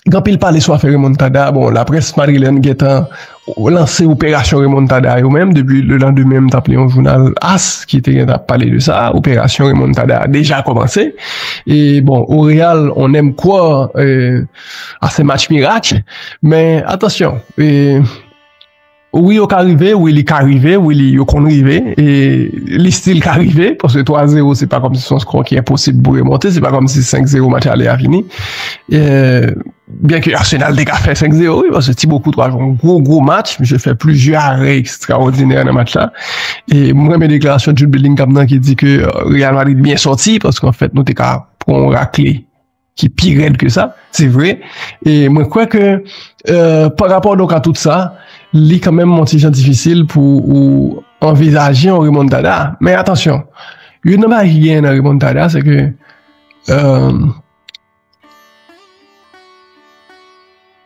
Gen anpil pale sou afè remontada, bon laprès madrilèn gentan lanse operasyon remontada yo menm depi le landemen m tap li yon jounal as ki te gentan ap pale de sa, operasyon remontada a deja kòmanse e bon o real on èm kwò a se match mirak men atansyon e. Wi yo ka rive, wi li ka rive, wi li yo konn rive, e li stil ka rive, paske 3 zero se pa kòm si son skò ki enposib pou remonte, se pa kòm si 5 zero match ale a fini, e byen ke Arsenal te ka fè 5 zero wi, paske Thibaut Courtois jwe yon gwo gwo match, misye fè plizyè arè ekstraòdinè nan match la, e m renmen deklarasyon Jude Bellingham nan ki di ke Real Madrid byen sòti, paske anfèt nou te ka pran yon rakle. ki pi rèd ke sa, se vre, e mwen kwè ke pa rapò donk a tout sa, li kanmenm yon ti jan difisil pou ou anvizaje yon remontada, men atansyon, yon nan bagay ki genyen nan remontada, se ke,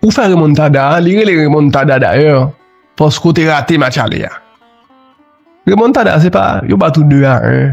ou fè remontada, li rele remontada dayè, paske ou te rate match ale a, remontada se pa, yo bat ou 2 a 1,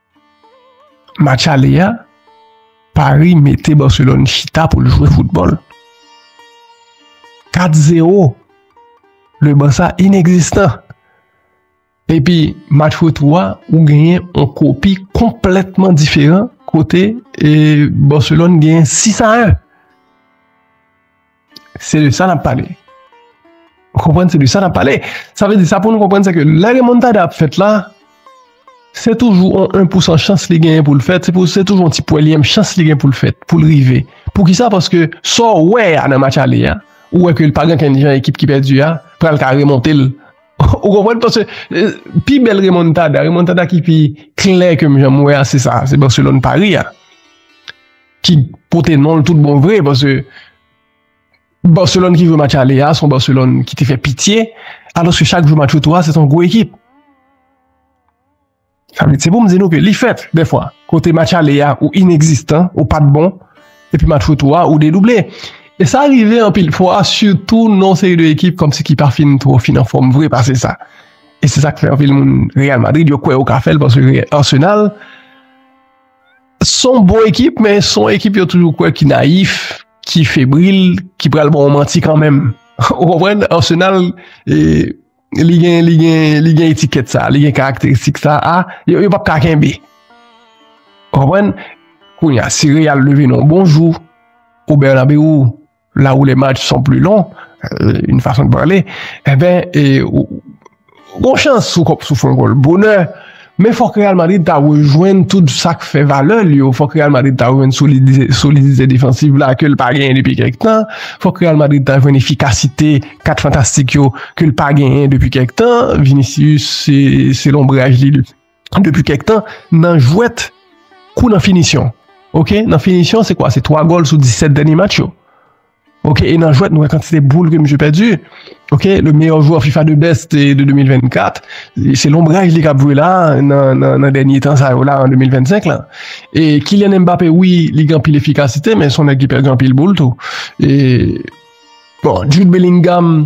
Match ale a, Paris mete Barcelone chita pou l jwe foutbòl. 4 0, le Barça inegzistan. Epi match retou a, ou genyen on kopi konplètman diferan kote e Barcelone genyen 6 a 1. Se de sa n ap pale. Ou konprann? Se de sa n ap pale. Sa vle di sa pou nou konprann se ke lè remontada ap fèt la, se toujou yon 1 pou 100 chans li genyen pou l fèt, se toujou yon ti pwèlyèm chans li genyen pou l fèt, pou l rive. Pou ki sa? Paske sa w wè a nan match ale a, ou wè ke l pa gen ankenn jan ekip ki pèdi a pral ka remonte l. Ou konprann? Paske pi bèl remontada, remontada ki pi klè ke m janm wè a se sa, se Barcelone-Paris a. ki pote non l tout bon vre, paske Barcelone ki jwe match ale a, se yon Barcelone ki te fè pitye, alòske chak jou match retou a, se te yon gwo ekip. Sa vle di, se pou m di nou ke li fèt, defwa, kote match ale a ou inekzistan, ou pa t bon, epi match retou a, ou dedouble. E sa rive anpil fwa, sitou nan yon seri de ekip kòmsi ki pa fin twò fin anfòm vre pase sa. E se sa k fè anpil moun Real Madrid yo kwè yo ka fè l, paske Arsenal, Son bon ekip men son ekip yo toujou kwè ki nayif, ki febril, ki pral ba w manti kanmenm. Ou konprann? Arsenal li gen li gen li gen etikèt sa, li gen karakteristik sa a, yo yo pap ka kenbe. Ou konprann? Kounya si Real leve nan w bon jou, ou Bernabeu, la ou le match son pli lon, yon fason de pale, e ben, yon chans sou kòp sou fon gòl bonè, men fòk Real Madrid ta rejwenn tout sa k fè valè l yo, fòk Real Madrid ta rejwenn solidite defansiv la ke l pa genyen depi kèk tan, fòk Real Madrid ta jwenn efikasite kat fantastik yo ke l pa genyen depi kèk tan, Vinicius se lonbraj li. depi kèk tan nan jwèt kou nan finisyon. Ok, nan finisyon se kwa? Se 3 gòl sou 17 dènye match yo. Ok, e nan jwèt nou wè kantite boul ke misye pèdi. Ok, le meyò jwè FIFA de best de 2024, se lonbraj li kap jwe la nan dènye tan sa yo la an 2025 la. E Kylian Mbappé wi li gen anpil efikasite men son nèg ki pèdi anpil boul tou. E bon, Jude Bellingham.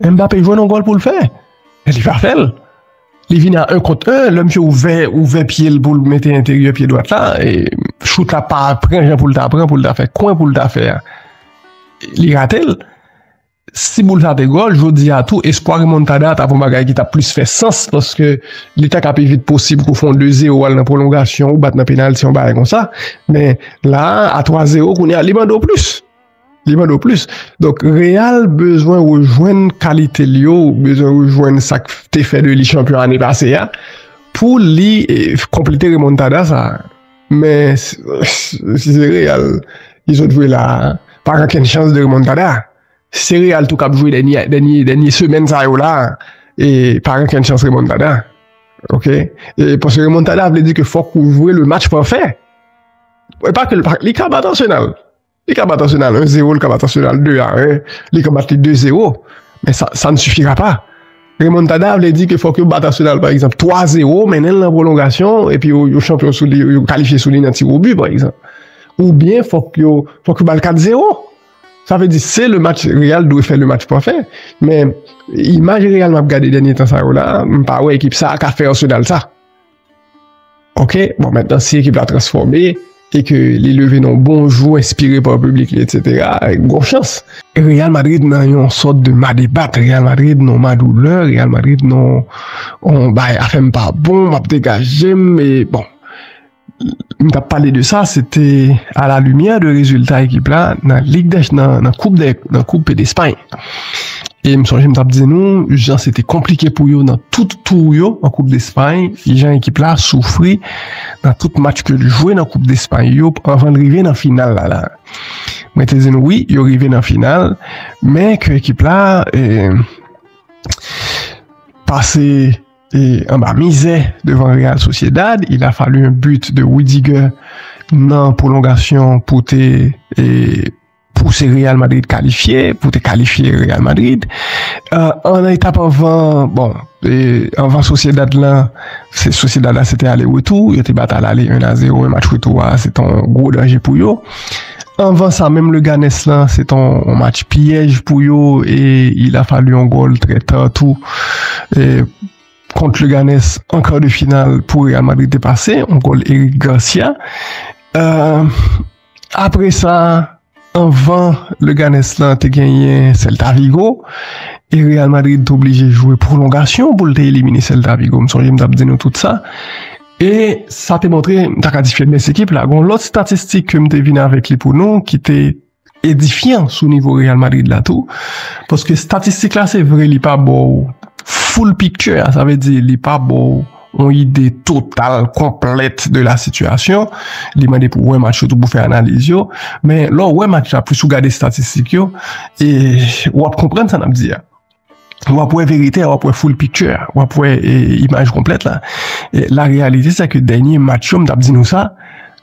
Mbappe jwenn yon gòl pou l fè, men li pa fè l. Li vini a 1 kont 1, lè misye ouvè, ouvè pye l pou l mete enteryè pye dwat la, chout la pa pran jan pou l ta pran pou l ta fè kwen pou l ta fè a. Li rate l. Si boul sa te gòl, jodi a tou, espwa remontada ta pou yon bagay ki ta plis fè sans, paske li ta ka pi vit posib kou fon 2 zero al nan pwolongasyon ou bat nan penalti yon bagay konsa, men la a 3 zero kounye a li mande w plis. Li mande w plis. Donk, Real bezwen rejwenn kalite li yo, bezwen rejwenn sa k te fè de li chanpyon ane pase a, pou li konplete remontada sa. Men, si se Real ki sot jwe la, pa gen okenn chans de remontada. Si se Real tou k ap jwe dènye semèn sa yo la, pa gen okenn chans remontada. Ok? Paske remontada vle di ke fòk ou jwe le match pafè. Li ka bat Arsenal. Li ka bat Arsenal 1 0, li ka bat Arsenal 2 a 1, li ka bat li 2 0, men sa n sifira pa. Remontada vle di ke fòk yo bat Arsenal pa egzanp 3 0, mennen l nan pwolongasyon, epi yo chanpyon sou li, yo kalifye sou li nan ti wobi pa egzanp. Ou byen fòk yo ba l 4 0. Sa vle di se le match Real dwe fè le match pafè, men imaj Real m ap gade dènye tan sa yo la, m pa wè ekip sa a ka fè Arsenal sa. Ok, bon mentan si ekip la transfòme, e ke li leve nan bon jou, enspire pa publik li, etc. Gon chans. Real Madrid nan yon sòt de ma debat, Real Madrid nan ma doulè, Real Madrid nan on bay a fèm pa bon, map degajem, e bon. M tap pale de sa, se te a la limyè de rezilta ekip la nan koup de Espagne. E m sonje m t ap di nou jan se te konplike pou yo nan tout tou yo an koup despay, jan ekip la soufri nan tout match ke l jwe nan koup despay yo anvan l rive nan final la la. Mwen te di nou wi yo rive nan final men ke ekip la pase anba mizè devan Real Sociedad, il a fallu un but de Rudiger nan pwolongasyon pou te pou se Real Madrid kalifye, pou te kalifye Real Madrid. Euh, an etap anvan, bon, anvan Sociedad lan, se Sociedad la se te ale retou, yo te bat al ale 1 a 0, e match retou a, se ton gwo danje pou yo. Anvan sa, menm le Ganes lan, se ton match piyèj pou yo, e il a falu yon gol trè ta tou, e kont le Ganes, an kar de final pou Real Madrid te pase, yon gol Eric Garcia. Euh, Apre sa, anvan Leganes lan te genyen Celta Vigo e Real Madrid te oblije jwe pwolongasyon pou l te elimine Celta Vigo. M sonje m t ap di nou tout sa. E sa te montre, m ta ka di feblès ekip la. Gon lòt statistik ke m te vin avèk li pou nou ki te edifyan sou nivo Real Madrid la tou. Paske statistik la se vre li pa ba w full picture a. Sa vle di li pa ba w yon ide total, konplèt de la sitiyasyon, li mande pou wè match yo tou pou fè analiz yo, men lè w wè match la plis ou gade estatistik yo, w ap konprann sa n ap di a, w ap wè verite a, w ap wè full picture a, w ap wè imaj konplèt la, la reyalite se ke dènye match yo, m t ap di nou sa,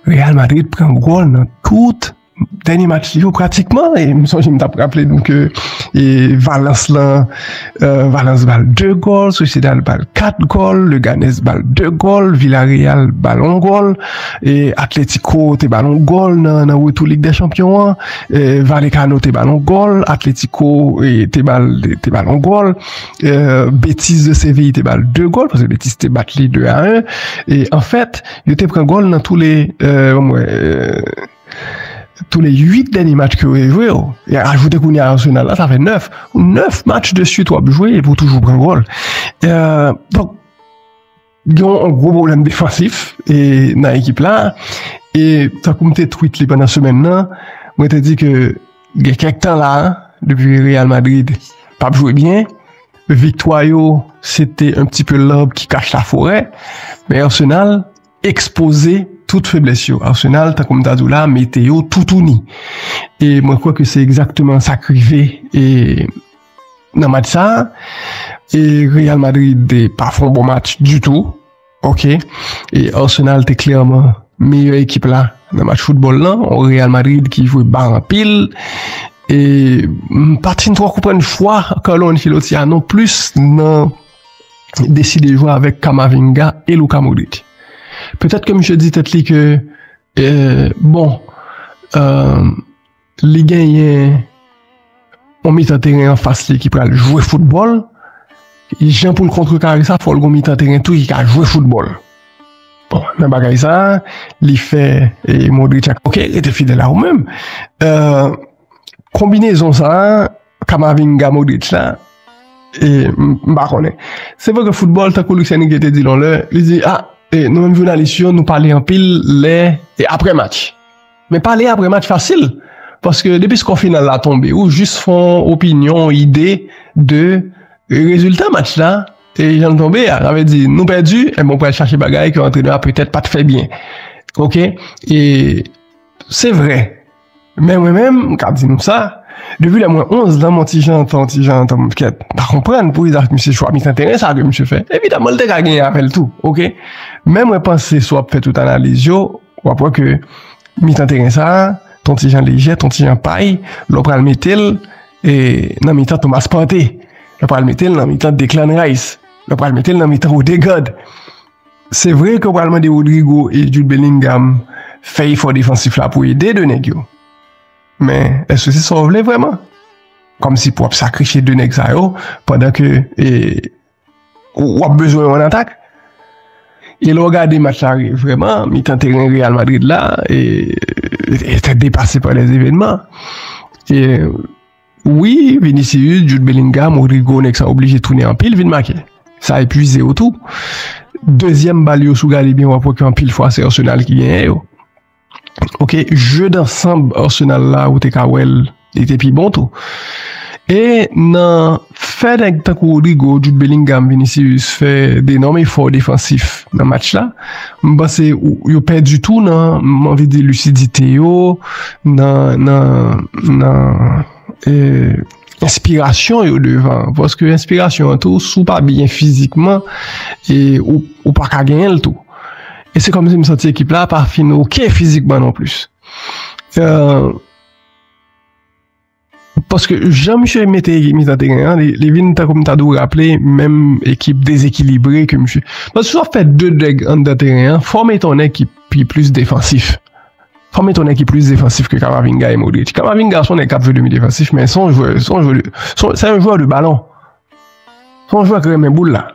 Real Madrid pran gòl nan tout. Dènye match li yo pratikman, e m sonje m t ap raple nou ke Valence lan, Valence ba l 2 gòl, Sociedad ba l 4 gòl, Leganés ba l 2 gòl, Villarreal ba l 1 gòl, e Atlético te ba l 1 gòl nan retou Lig dè Chanpyon an, Vallecano te ba l 1 gòl, Atlético te ba l 1 gòl, Betis de Séville te ba l 2 gòl, paske Betis te bat li 2 a 1, e anfèt, yo te pran gòl nan tou le, ban m wè. Tou le 8 dènye match ke w te jwe yo, e ajoute kounye a Arsenal la, sa fè 9. 9 match de suit w ap jwe epi w toujou pran gòl. Donk, gen yon gwo pwoblèm defansif nan ekip la. E tankou m te twit li pandan semèn nan, mwen te di ke gen kèk tan la, depi Real Madrid pa ap jwe byen, viktwa yo se te un pti peu l'arbre qui cache la forêt, men Arsenal, ekspoze tout feblès yo. Arsenal, tankou m ta di w la, mete yo toutouni. E mwen kwè ke se egzakteman sa k rive e nan match sa a. E Real Madrid te pa fè yon bon match ditou. Ok. E Arsenal te klèman meyè ekip la nan match foutbòl lan. Yon Real Madrid ki jwe ba anpil. E m pa t fin twò konprann chwa Carlo Ancelotti a nonplis nan. deside jwe avèk Kamavinga e Luka Modric. Petèt ke misye di tèt li ke, bon, euh, li genyen yon mitan teren an fas li ki pral jwe foutbòl, jan pou l kontrekare sa, fò l gon mitan teren tou ki ka jwe foutbòl. Bon, nan bagay sa, li fè e Modric ak, ok, rete fidèl a ou menm. Euh, Konbinezon sa a, Kamavinga, Modric la, e m pa konnen. Se vre ke foutbòl, tankou Luis Enrique te di l yon lè, li di, a, e nou menm jounalis yo, nou pale anpil lè e apre match. Men pale apre match fasil, paske depi skò final la tonbe, ou jis fè yon opinyon, yon ide de rezilta match la, e jan l tonbe a. Sa vle di, nou pèdi, e m pral chache bagay ke antrenè a petèt pa t fè byen. Ok? E se vre. Men mwen menm, m ka di nou sa, depi lè mwen 11 lan, mwen ti jantan, ti jantan m fket pa konprann pou izaj misye chwa mitan teren sa ke misye fè. Evidaman l te ka genyen avè l tou, ok. Men mwen panse si w ap fè tout analiz yo, w ap wè ke mitan teren sa, ton ti jan lejè, ton ti jan pay, lè w pral mete l nan mitan Thomas Partey, lè w pral mete l nan mitan Declan Rice, lè w pral mete l nan mitan Odegaard, Se vre ke w pral mande Rodrygo e Jude Bellingham fè efò defansif la pou ede 2 nèg yo. Men, eske se sa w vle vreman? Kòm si pou w ap sakrifye 2 nèg sa yo pandan ke w ap bezwen yo an atak? E lè w gade match la vreman, mitan teren Real Madrid la te depase pa lè evenman. Wi Vinicius, Jude Bellingham, Rodrygo nèg sa oblije tounen anpil vin make. Sa epuizew tou. Dezyèm bal yo si w gade byen wap wè ke anpil fwa se Arsenal ki genyen yo. Ok, jeu d'ensemble Arsenal la ou te ka wèl li te pi bon tou. E nan fè nèg tankou Rodrygo, Jude Bellingham, Vinicius fè de nòm efò defansif nan match la, M panse yo pèdi tou nan, m anvi di lisidite yo, nan enspirasyon yo devan. Paske enspirasyon an tou, si w pa byen fizikman, ou pa ka genyen l tou. E se kòm si m santi ekip la pa fin oke fizikman non plis. Paske jan misye mete ekip mitan teren an, li vin tankou m ta di w raple menm ekip dezekilibre ke misye. Paske si w ap fè 2 dèg anndan teren an, fò w mete yon nèg ki pi plis defansif. Fò w mete yon nèg ki plis defansif ke Kamavinga e Modric. Kamavinga se yon nèg k ap jwe demi defansif men se yon jwè, se yon jwè, se yon jwè de balon. Se yon jwè ki renmen boul la.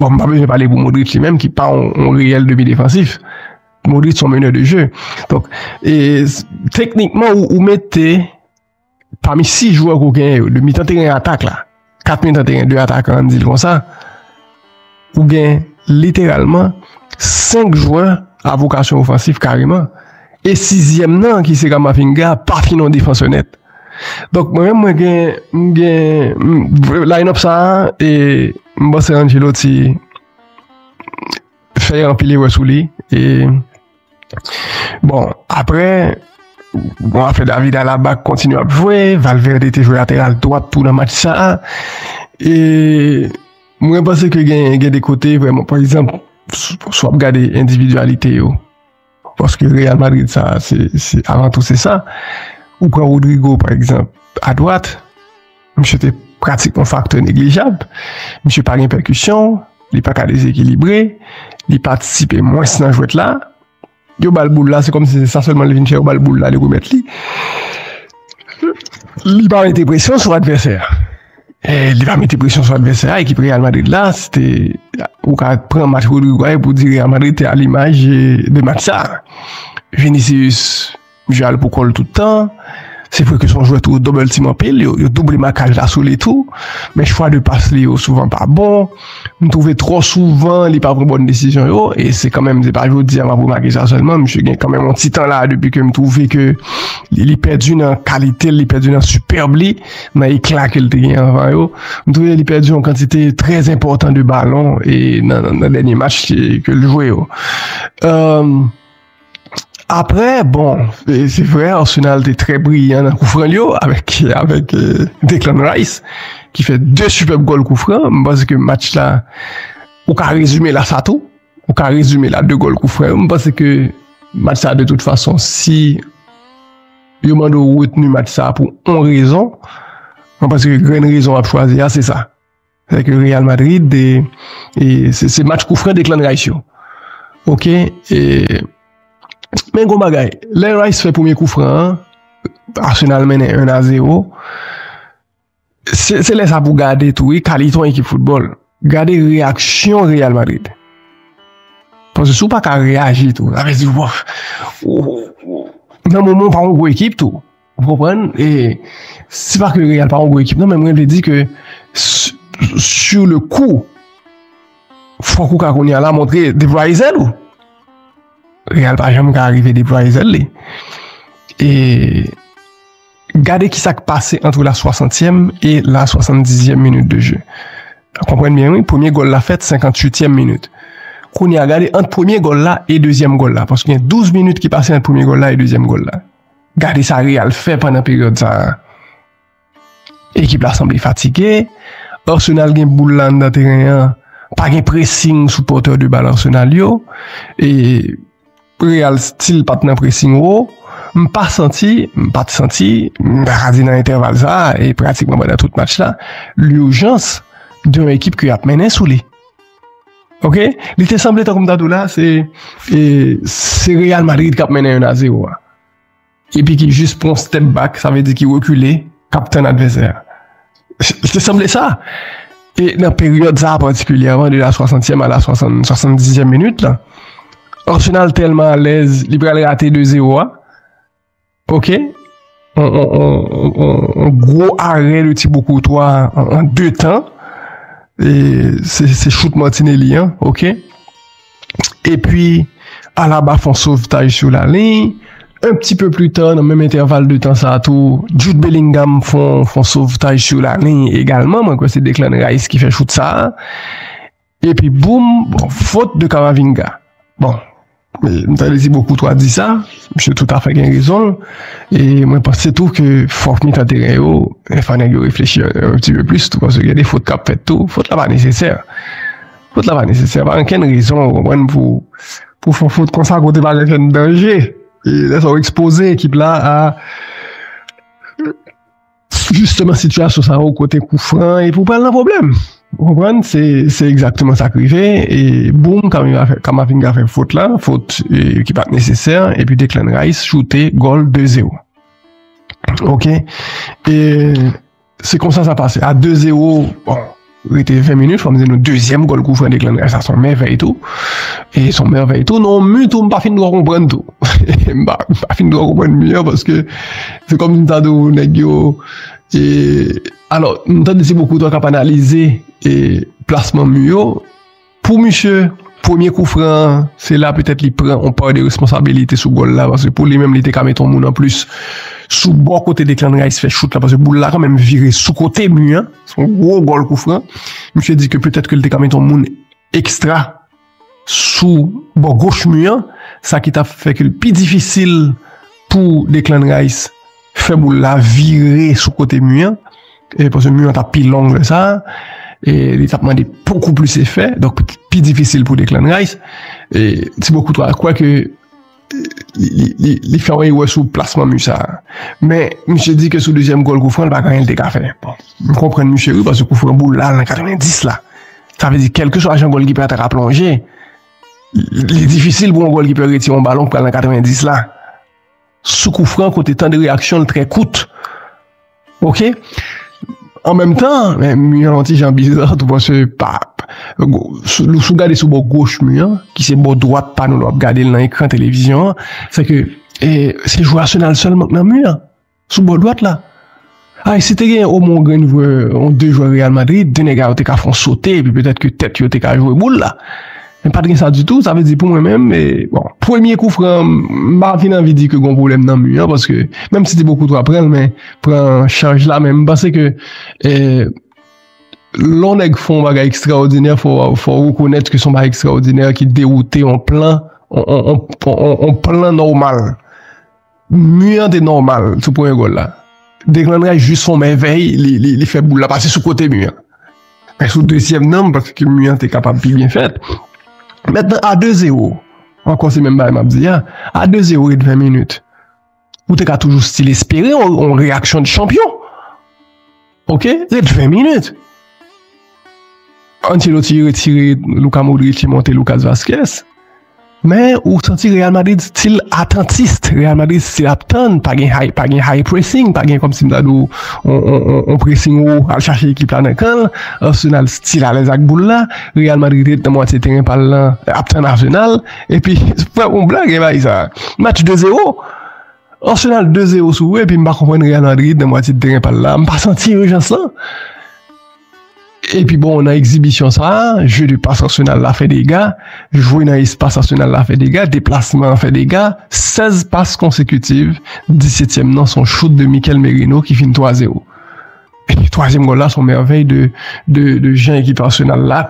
Bon m pa bezwen pale pou Modric li menm ki pa yon reyèl demi defansif. Modric son meneur de jeu. Donk, e, teknikman ou, ou mete pami 6 jwè ou gen yo, 2 mitan teren atak la, 4 mitan teren 2 atak an, an di l kon sa, ou gen literalman 5 jwè a vokasyon ofansif kareman. E sizyèm nan ki se Kamavinga pa fin yon defansè nèt. Donk, mwen menm mwen gen, m gen, line up sa a, e, m panse Ancelotti, fè anpil erè sou li e bon apre bon afè David Alaba kontinye ap jwe Valverde te jwe lateral dwat tou nan match sa a e mwen panse ke gen gen de kote vreman pa egzanp sou ap gade endividualite yo Paske Real Madrid sa a se avan tou se sa. Ou pran Rodrygo pa egzanp a dwat, misye te pratik yon faktè neglijab. Misye pa gen pèkisyon, li pa ka dezekilibre, li patisipe mwens nan jwèt la. Yo ba l boul la, se kòmsi se sa sèlman li vin fè, yo ba l boul la li remèt li. Li pa mete presyon sou advèsè a. Li pa mete presyon sou advèsè a, ekip Real Madrid la, se te, ou ka pran match Rodrygo a e pou di Real Madrid te a limaj de match sa. Vinicius jwe al pou kòl tout tan, se vre ke son jwè tou double team anpil, yo double makaj la sou li tou, men chwa de pas li yo souvan pa bon. M twouve twò souvan li pa pran bòn desizyon yo, e se kanmenm se pa jodi a m ap remake sa sèlman, misye gen kanmenm yon ti tan la depi ke m twouve ke li pèdi nan kalite l, li pèdi nan sipèb li, nan ekla ke l te gen anvan yo. M twouve li pèdi yon kantite trè enpòtan de balon nan dènye match ke l jwe yo. Aprè bon se vre Arsenal te trè briyan nan koufran l yo avèk Declan Rice ki fè 2 sipèb gòl koufran m panse ke match la ou ka rezime l a sa tou ou ka rezime l a 2 gòl koufran yo m panse ke match sa de tout fason si yo mande ou retni match sa pou 1 rezon m panse ke grenn rezon w ap chwazi a se sa. Sè ke Real Madrid de e se match kou fre de klan Rice yo. Ok e men gon bagay. Lè Rice fè premye kou fran an, Arsenal mennen 1 a 0. Se se lè sa pou gade tou e kalite yon ekip foutbòl. Gade reyaksyon Real Madrid. Pwase sou pa ka reyaji tou. Avè di wòf. Nan moman w pa yon gwo ekip tou. Ou konprann? E se pa ke Real pa yon gwo ekip non, men mwen vle di ke sur le coup fòk ou ka kounye a la montre deplwaye zèl ou. Real pa janm ka arive deplwaye zèl li. E gade ki sa k pase antre la swasantyèm e la swasandizyèm minit de je. Konprann byen wi, premye gòl la fèt senkantuityèm minit. Kounye a gade ant premye gòl la e dezyèm gòl la, paske gen douz minit ki pase ant premye gòl la e dezyèm gòl la. Gade sa Real fè pandan peryòd sa a. Ekip la sanble fatige. Arsenal gen boul la anndan teren an. Pa gen pressing sou pòtè de bal Arsenal yo. E Real stil pa t nan pressing wo. M pa santi, m pa t santi, m ta ka di nan entèval sa a e pratikman pandan tout match la, l'urgence de yon ekip ke y ap mennen sou li. Ok li te sanble tankou m ta di w la se se Real Madrid kap mennen 1 a 0 a epi ki jis pran yon step back sa vle di ki rekile kap tann advèsè a li te sanble sa e nan peryòd sa patikilyèman de la swasantyèm a la swasann swasann dizyèm minit lan Arsenal tèlman alèz li pral rate 2 0 a. Ok, yon gwo arè de Thibaut Courtois an 2 tan, se chout Martinelli an, ok. Epi Alaba fè yon sovtaj sou la liy, yon ti pe pli ta nan menm entèval de tan sa tou, Jude Bellingham fè yon sovtaj sou la liy egalman, mwen kwè se Declan Rice ki fè chout sa. Epi boum, bon, fot de Kamavinga. Bon, m ta de Tibo Koutwa di sa, misye tout afè gen rezon l, e mwen panse tou ke fòk mitan teren yo, fò nèg yo reflechi yon ti pe plis tou, paske gen de fot k ap fèt tou, fot la pa nesesè. Fot la pa nesesè, pa gen okenn rezon, ou konprann, pou fè fot konsa kote pa gen okenn danje. E lè sa ou ekspoze ekip la a. Jisteman sitiyasyon sa yo kote kou fran an epi ou pral nan pwoblèm. Ou konprann? Se egzakteman sa k rive e boum Kamavinga fè fot la, fot ki pa t nesesè epi Declan Rice choute gòl 2 zero. Ok e se konsa sa pase a 2 zero bon. Rete 20 minit fòm di nou dezyèm gòl kou Frederick Landry sa son mèvèy tou e son mèvèy tou non mi tou m pa fin dò konprann tou m pa fin dò konprann mi an paske se kòm si ta di ou nèg yo e alò m tande se pou kou ta kap analize e plasman mi yo Pou misye, premye kou fran an, se la petèt li pran yon pa de responsabilite sou gòl la, paske pou li menm li te ka met yon moun anplis sou bò kote Declan Rice fè chout la, paske boul la kanmenm vire sou kote mi an, se yon gwo gòl kou fran, misye di ke petèt ke li te ka met yon moun ekstra sou bò goch mi an, sa ki ta fè ke li pi difisil pou Declan Rice. Fè boul la vire sou kote mi an, e pase mi an ta pi long lè sa, e li tap mande pokou plis efè, donk pi difisil pou Declan Rice, e Thibaut Courtois kwè ke li fè yon erè sou plasman mi sa, men misye di ke sou dezyèm gòl kou fran pa gen anyen li te ka fè, bon m konprann misye wi pase kou fran boul la al nan 90 la, sa vle di kelke swa jan gòl kipè ta ka plonje, li difisil pou yon gòl kipè retire yon balon pou al nan 90 la. Sou kou Franck ou te tan de reyaksyon l trè kout. Ok. An menm tan, men mi an ti jan bizar tou pase pa. Sou gade sou bò goch mi an, ki se bò dwat pa nou lò ap gade l nan ekran televizyon an, se ke se jwè Arsenal sèlman k nan mi an, sou bò dwat la. Ay si te genyen omwen yon grenn jwè, yon de jwè Real Madrid, de nèga yo te ka fè yon sote epi petèt ke tèt yo te ka jwe boul la. Men pat gen sa ditou, sa vle di pou mwen menm, bon, premye koufran an, m pa fin anvi di ke gon pwoblèm nan mi an paske menm si Tibo Koutoua pran l men pran chaj la men m panse ke lè yon nèg fè yon bagay ekstraòdinè fò w rekonèt ke se yon bagay ekstraòdinè ki dewoute yon plan, yon plan nòmal. Mur an te nòmal sou premye gòl la. Declan Rice jis fon mèvèy, li fè boul la pase sou kote mur an. Men sou dezyèm nan, paske mur an te kapab pi byen fèt. Mètnan a 2 zero, ankò se menm bagay m ap di a, a 2 zero ret 20 minit, ou te ka toujou stil espere yon reyaksyon de chanpyon. Ok, ret 20 minit. Ancelotti retire Luka Modric li monte Lucas Vazquez. Men ou santi Real Madrid stil atantist. Real Madrid stil ap tann, pa gen high pressing, pa gen komsi m ta di w on pressing wo al chache ekip la nan kan l. Arsenal stil alèz ak boul la. Real Madrid ret nan mwatye teren pa l lan ap tann Arsenal. Epi, se pa yon blag e bay sa. Match 2-0. Arsenal 2 0 sou epi m pa konprann Real Madrid nan mwatye teren pal la, m pa santi ijans lan. Epi bon nan ekzibisyon sa, jeu de passe Arsenal la fè dega, jwe nan espas Arsenal la fè dega, deplasman an fè dega, 16 pas konsekutiv, disetyèm nan son chout de Mikel Merino ki fin 3 0. Twazyèm gòl la son mèvèy de jan ekip Arsenal la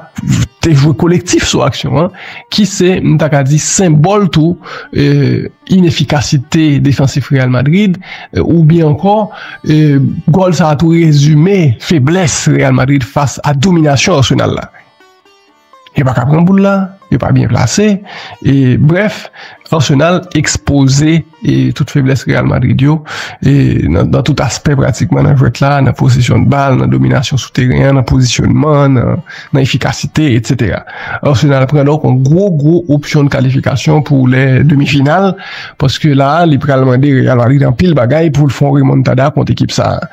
te jwe kolektif sou aksyon an ki se m ta ka di senbòl tou inefikasite defansif Real Madrid ou byen ankò gòl sa tou rezime feblès Real Madrid fas a dominasyon Arsenal la. Yo pa ka pran boul la, yo pa byen plase, e brèf, Arsenal ekspoze e tout feblès Real Madrid yo, e nan tout aspè pratikman nan jwèt la, nan posesyon de bal, nan dominasyon sou teren an, nan pozisyonman, nan efikasite, etc. Arsenal pran donk yon gwo gwo opsyon de kalifikasyon pou lè demi final, paske la li pral mande Real Madrid anpil bagay pou l fè yon remontada kont ekip sa a.